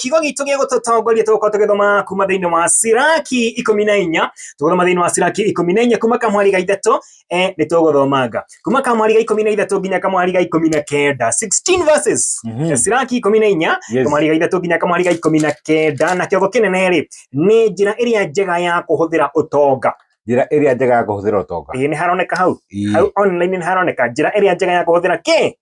kiugo gitũ gĩa gũtũtongoria tũgũkorwo tũgĩthoma kuma thĩinĩ wa siraki ikũmi na inya tũgũthoma thĩinĩ wa siraki ikũmi na inya kuma kamwari ga ithatũ eh, nĩ tũgũthomanga kuma kamwari ga ikũmi na ithatũ nginya kamwari ga ikũmi na kenda 16 verses Mhm. Eh, siraki ikũmi na inya Yes. kamwari ga ithatũ nginya kamwari ga ikũmi na kenda na kĩongo kĩnene rĩ nĩ njĩra ĩrĩa njega ya kũhũthĩra ũtonga njĩra ĩrĩa njega ya kũhũthĩra ũtonga ĩĩ nĩ haroneka hau Ii. hau online nĩ haroneka njĩra ĩrĩa njega ya kũhũthĩra kĩ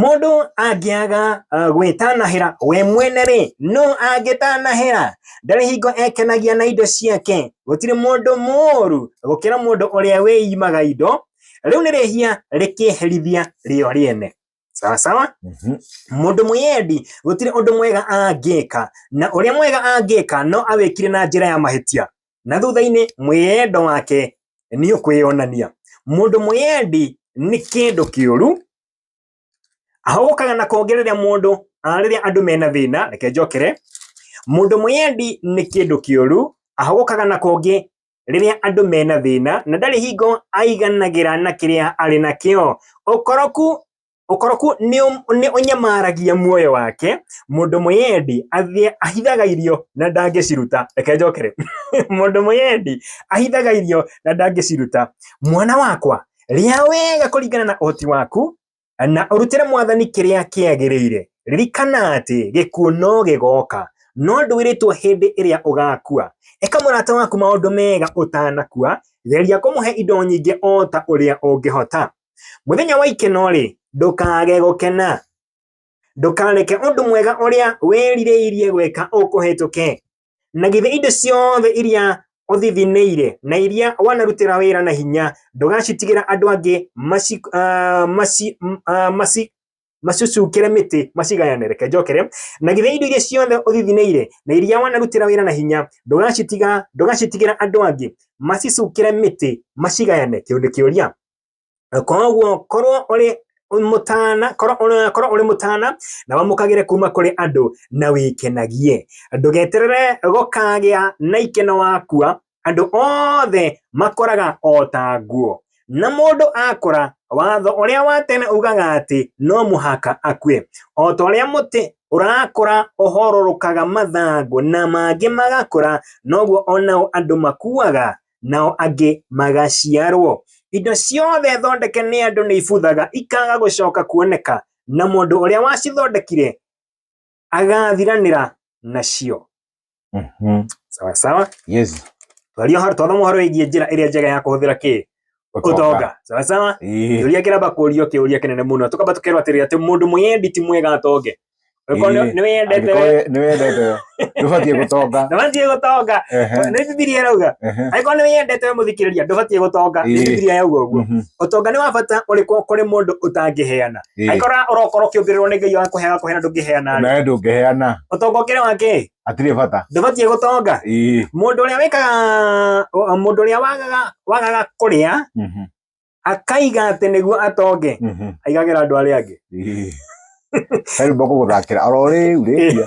Mũndũ angĩaga uh, gwĩtanahĩra we mwene rĩ, no angĩtanahĩra ndarĩ hingo ekenagia na indo ciake. Gũtirĩ mũndũ mũũru gũkĩra mũndũ ũrĩa wĩimaga indo, rĩu nĩ rĩhia rĩkĩherithia rĩo rĩene. Sawa sawa, Mhm. mũndũ mwĩyendi gũtirĩ ũndũ mwega angĩka, na ũrĩa mwega angĩka no awĩkire na njĩra ya mahĩtia. na thutha-inĩ mwĩyendo wake nĩ ũkwĩyonania mũndũ mwĩyendi nĩ kĩndũ kĩũru ahũkaga na konge rĩrĩa mũndũ ah, rĩrĩa andũ mena thĩna reke njokere mũndũ mwĩyendi nĩ kĩndũ kĩũru ahũkaga na konge rĩrĩa andũ mena thĩna na ndarĩ hingo aiganagĩra na kĩrĩa arĩ nakĩo ũkoroku Ũkoroku nĩ ũnyamaragia muoyo wake, mũndũ mwĩyendi ahithaga irio na ndangĩciruta. Reke njoke rĩu. Mũndũ mwĩyendi ahithaga irio na ndangĩciruta. Mwana wakwa, rĩa wega kũringana na ũhoti waku, na ũrutĩre mwathani kĩrĩa kĩagĩrĩire. Ririkana atĩ gĩkuũ no gĩgoka, no ndwĩrĩtwo hĩndĩ ĩrĩa ũgakua. Ĩka mũrata waku maũndũ mega ũtanakua, geria kũmũhe indo nyingĩ o ta ũrĩa ũngĩhota. Mũthenya wa ikeno-rĩ, ndũkaage gũkena. Ndũkareke ũndũ mwega ũrĩa wĩrirĩirie gwĩka ũkũhĩtũke. Na githĩ indo ciothe iria ũthithinĩire na iria wanarutĩra wĩra na hinya ndũgacitigĩra andũ angĩ maci, uh, maci, uh, maci, macucukĩre mĩtĩ macigayane reke njokere na githĩ indo iria ciothe ũthithinĩire na iria wanarutĩra wĩra na hinya ndũgacitiga ndũgacitigĩra andũ angĩ macicukĩre mĩtĩ macigayane kĩu nĩ kĩũria koguo korwo ũrĩ mũtana korwo ũrĩ- korwo ũrĩ mũtana na wamũkagĩre kuma kũrĩ andũ na wĩkenagie ndũgeterere gũkagĩa na ikeno wakua andũ othe makoraga o ta nguo na mũndũ akũra watho ũrĩa wa tene ugaga atĩ no mũhaka akue o ta ũrĩa mũtĩ ũrakũra ũhororokaga mathangũ na mangĩ magakũra noguo onao andũ makuaga nao angĩ magaciarwo indo ciothe thondeke nĩ andũ nĩ ibuthaga ikaga gũcoka kuoneka na mũndũ ũrĩa wacithondekire agathiranĩra nacio Mhm. sawa sawa Yes. twario har twathoma ũhoro wĩgiĩ njĩra ĩrĩa njega ya kũhũthĩra kĩ ũtonga sawa sawa Ĩĩ. kĩũria kĩramba kũũrio kĩũria kĩnene mũno tũkamba tũkerwo atĩrĩ atĩ mũndũ mũyendi ti mwega atonge Angĩkorwo nĩ- Ĩĩ. nĩ wĩyendete we, Angĩkorwo nĩ wendete ndũbatiĩ gũtonga ndũbatiĩ gũtonga Ehe, nĩ bibilia ĩrauga ehe. angĩkorwo nĩ wĩyendete we mũthikĩrĩria ndũbatiĩ gũtonga nĩ Ĩĩ. bibilia yauga ũguo Mhm. ũtonga nĩ wa bata ũrĩkũ kũrĩ mũndũ ũtangĩheana Ĩĩ. aikora ũrokora ũkĩũngĩrĩrwo nĩ ngai wakũheaga kũheana ndũngĩheana rĩ nawe ndũngĩheana ũtonga ũkĩrĩ wake hatirĩ bata ndũbatiĩ gũtonga Ĩĩ. mũndũ ũrĩa wĩkaga o- mũndũ ũrĩa wagaga wagaga kũrĩa Mhm. akaiga atĩ nĩguo atonge Mhm. aigagĩra andũ arĩa angĩ Ĩĩ. Rĩu mbakũgũthakĩra oro rĩu rĩkia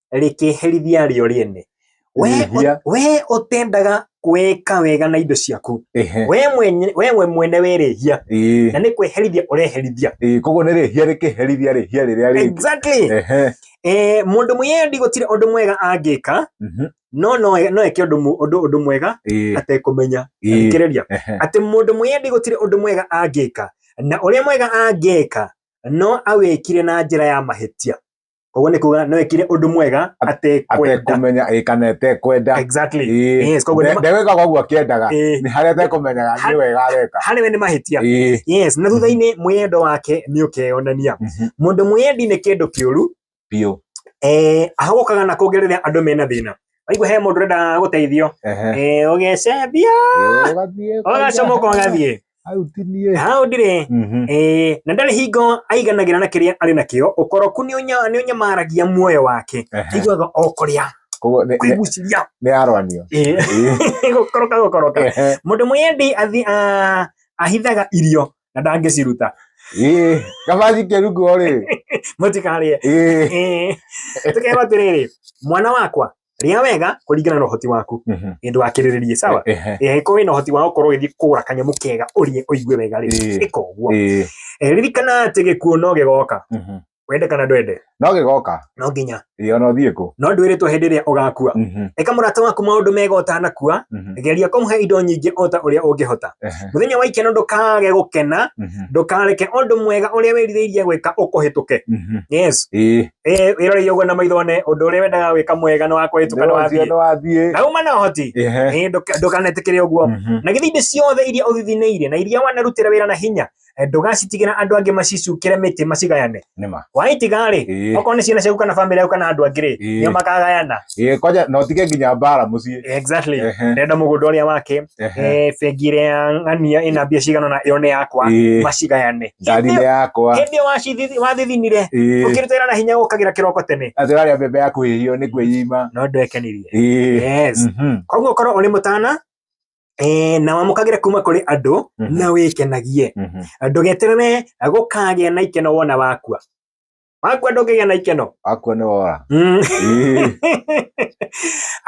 rĩkĩherithia rĩo rĩene we, Rĩhia. we ũtendaga kwĩka wega na indo ciaku Ehe. we mwenye- we we mwene werĩhia Ĩĩ, na nĩ kwĩherithia ũreherithia ĩĩ, koguo nĩ rĩhia rĩkĩherithia rĩhia rĩrĩa rĩngĩ exactly Ehe, eh, mũndũ mwĩyendi gũtirĩ ũndũ mwega angĩka mhm, no no no eke ũndũ mu- ũndũ ũndũ mwega ĩĩ, atekũmenya ĩĩ, thikĩrĩria ehe, atĩ mũndũ mwĩyendi gũtirĩ ũndũ mwega angĩka na ũrĩa mwega angĩka no awĩkire na njĩra ya mahĩtia koguo nĩ kuga nĩ wekire ũndũ mwega atekwenda atekũmenya ĩ, kana etekwenda exactly Ĩ, yes koguo nĩ nde- ma- ndewĩkaga ũguo akĩendaga Ĩ. nĩ harĩa atekũmenyaga nĩ wega areka harĩ we nĩ mahĩtia Ĩ, yes na thutha-inĩ mwĩyendo wake nĩ ũkeyonania mhm, mũndũ mwĩyendi nĩ kĩndũ kĩũru biũ eh, ahagũkaga na kũngĩ rĩrĩa andũ mena thĩna waigua he mũndũ ũrenda gũteithio Ehe. eh, ũgecembia Ĩ, ũgathiĩ ũgacomoka ũgathiĩ hau ti niĩ hau ndirĩ Mhm. Eh, na ndarĩ hingo aiganagĩra na kĩrĩa arĩ nakĩo ũkoroku nĩ ũnya- nĩ ũnyamaragia muoyo wake Ehe. aiguaga o kũrĩa Koguo nĩ- nĩ- kwĩguciria nĩ aroanio Eh, gũkoroka gũkoroka Ehe. mũndũ mwĩyendi athi- a- ahithaga irio na ndangĩciruta Ĩĩ, kabanji kĩrungu rĩ mũtikarĩe Ĩĩ. Eh, tũkerwo atĩrĩrĩ mwana wakwa rĩa wega kũringana na ũhoti waku Mhm. ĩndũ wakĩrĩrĩrie sawa Ehe. Eh, ko wĩna ũhoti wa gũkorwo ũgĩthiĩ kũgũra kanyamũ kega ũrĩe ũigue wega rĩ Ĩĩ. ĩka ũguo Ĩĩ. Eh, ririkana atĩ gĩkuũ no gĩgoka Mhm. wende kana ndwende no gĩgoka no nginya ĩĩ ona ũthiĩ kũ no ndwĩrĩtwo hĩndĩ ĩrĩa ũgakua Mhm. ĩka mũrata waku maũndũ mega ũtanakua Mhm. geria kũmũhe indo nyingĩ o ta ũrĩa ũngĩhota Ehe. mũthenya wa ikeno ndũkage gũkena Mhm. ndũkareke ũndũ mwega ũrĩa wĩrirĩirie gwĩka ũkũhĩtũke Mhm. yes Ĩĩ. Eh, wĩroreire ũguo na maitho one ũndũ ũrĩa wendaga gwĩka mwega nĩ wakũhĩtũka nĩ wathiĩ nĩwathiĩ na uma na ũhoti Ehe. Eh, ndũka- ndũkanetĩkĩre ũguo Mhm. na githĩ indo ciothe iria ũthithinĩire na iria wanarutĩra wĩra na hinya eh, ndũgacitigĩra andũ angĩ macicukĩre mĩtĩ macigayane nĩma waitiga-rĩ Ĩĩ. okorwo nĩ ciana ciaku kana bamĩrĩ yaku kana andũ angĩ-rĩ Ĩĩ. nĩo makagayana Ĩ, kwaja na ũtige nginya mbara mũciĩ exactly Ehe. ndenda mũgũnda ũrĩa wake Ehe. eh, bengi ĩrĩa ya ng'ania ĩna mbia cigana ũna ĩyo nĩ yakwa Ĩ, macigayane ngari nĩ yakwa hĩndĩ ĩyo wacithi- wathithinire Ĩ, ũkĩruta wĩra na hinya ũkagĩra kĩroko tene atĩ ũrarĩa mbembe ya kũhĩhio nĩ kwĩima no ndwekenirie Ĩ, yes mhm, koguo korwo ũrĩ mũtana eh, na wamũkagĩre kuma kũrĩ andũ Mhm. na wĩkenagie mhm. ndũgeterere gũkagĩa na ikeno wona wakua wakua ndũngĩgĩa na ikeno wakua nĩ wora mm.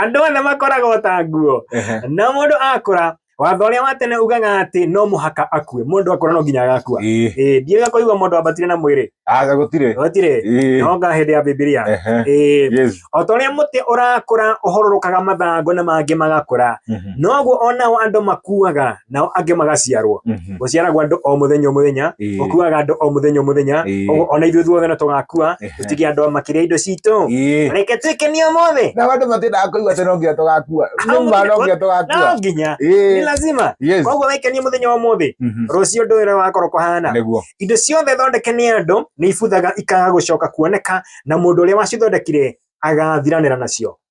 andũ othe makoragwo ta nguo na mũndũ akũra watho ũrĩa wa tene ugaga atĩ no mũhaka akue mũndũ akũra no nginya agakua ndiaga kũigua mũndũ ambatire na mwĩrĩ gũtirĩ gũtirĩ nonga hĩndĩ ya bibilia o ta ũrĩa mũtĩ ũrakũra ũhororokaga mathangũ na mangĩ magakũra mhm. noguo onao andũ makuaga nao angĩ magaciarwo Mhm. gũciaragwo andũ o mũthenya o mũthenya Ĩĩ. gũkuaga andũ o mũthenya o mũthenya Ĩĩ. ũguo ona ithuĩ thuothe no tũgakua Ehe. tũtige andũ a makĩria indo citũ Ĩĩ. reke twĩke nĩ ũmũthĩ na andå matindaga kå igua atä no nginya tå gakua Au nä ma no nginya tå no gakua nginya nĩ lazima Yes. koguo wekenie mũthenya wa mũthĩ Mhm. rũciũ ndå ä wakorwo kũhana nĩguo indo ciothe thondeke nĩ andũ nĩ ibuthaga ikaga gũcoka kuoneka na mũndũ ũrĩa wacithondekire agathiranĩra nacio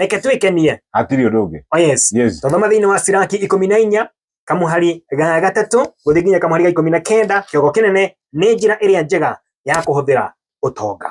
reke twĩkenie hatirĩ ũndũ ũngĩ oh yes yes twathoma thĩinĩ wa siraki ikũmi na inya kamuhari ga gatatũ gũthiĩ nginya kamuhari ga ikũmi na kenda kĩongo kĩnene nĩ njĩra ĩrĩa njega ya kũhũthĩra ũtonga